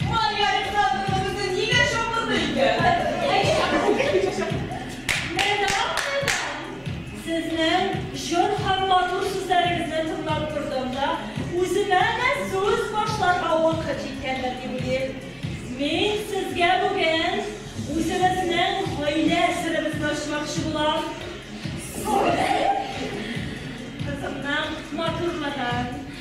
Туган ярым хатыныбызны нигә чакырды икән? Сезнең җор һәм матур сүзләрегезне тыңлап тордым да, үземә дә сүз башларга вакыт җиткәндер дип уйлыйм. Мин сезгә бүген үзебезнең гаилә серебезне ачмакчы булам. Сабый кызымның матурлыгын,